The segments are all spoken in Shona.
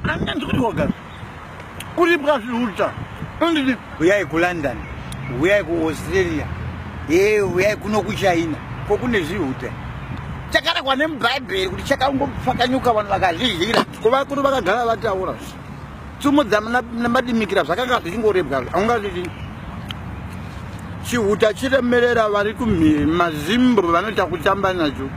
Anga ndikuti wagara kuri bwazviuta andidi huyai kulondon huyai kuaustralia e huyai kuno kuchina ko kune zvihuta chakarekwa nemubhaibheri kuti chakangopfakanyuka vanhu vakazvihira ko vakuru vakagara vataura tsumo dzamadimikira zvakanga zvichingorebwa aungazvii chihuta chiremerera vari kumhiri mazimbro vanoita kutamba nacho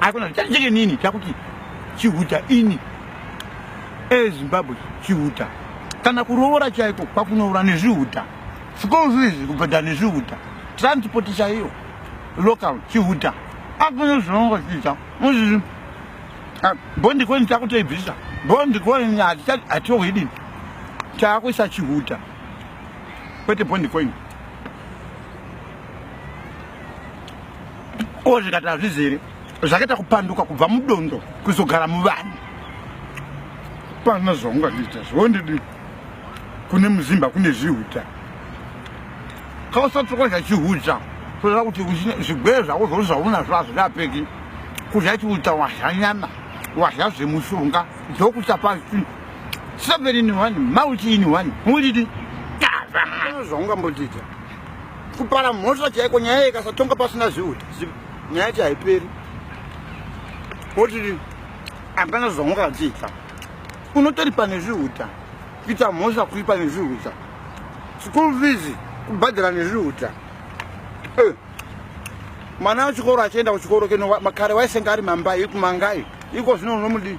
Akuna chanje nini chakuti chihuta ini eZimbabwe chihuta kana kuroora chaiko kwakunoura nezvihuta school fees kubhadhara nezvihuta transport chaiyo local chihuta akuna zvinongo chiita muzvizvi ah, bondi kweni takutoibvisa bondi kweni hatiohidini taakuisa chihuta kwete bondi kweni ko zvikati hazvizere zvakaita kupanduka kubva mudondo kuzogara muvanhu pana zvaungandiita zvondidi kune muzimba kune zvihuta kausatsoka zvachihuta kuda kuti zvigwere zvako zvoo zvaunazvo hazvirapeki kudya chiuta wadya nyama wadya zvemushonga ndokuchapa seven in one multi in one mulidi zvaungambotiita kupara mhosva chaiko nyaya ikasatonga pasina zviuta nyaya yacho haiperi woti hapana zvamwakadziita unotoripa nezviuta kuita mhosva kuripa nezviuta school fees kubhadhara nezviuta eh, mwana wechikoro achienda kuchikoro keno makare waisenge ari mambai ikumangai iko zvino unomudii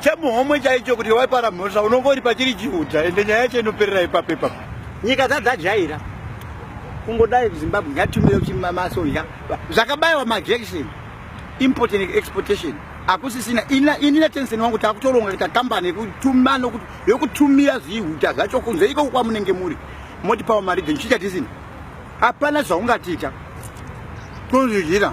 chemuhomwe chaicho kuti waipara mhosva unongori pachiri chiuta ende nyaya yacho inoperera ipapo ipapo nyika dzadzajaira kungodai zimbabwe ngatumire kuti masoja zvakabayiwa majection import and exportation hakusisina ini natensen wangu takutoronga kuita kambani yekutuma nokuti yokutumira zvihuta zvacho kunze ikoko kwamunenge muri moti pawa maridhen chichatisina hapana zvaungatiita tozvidyira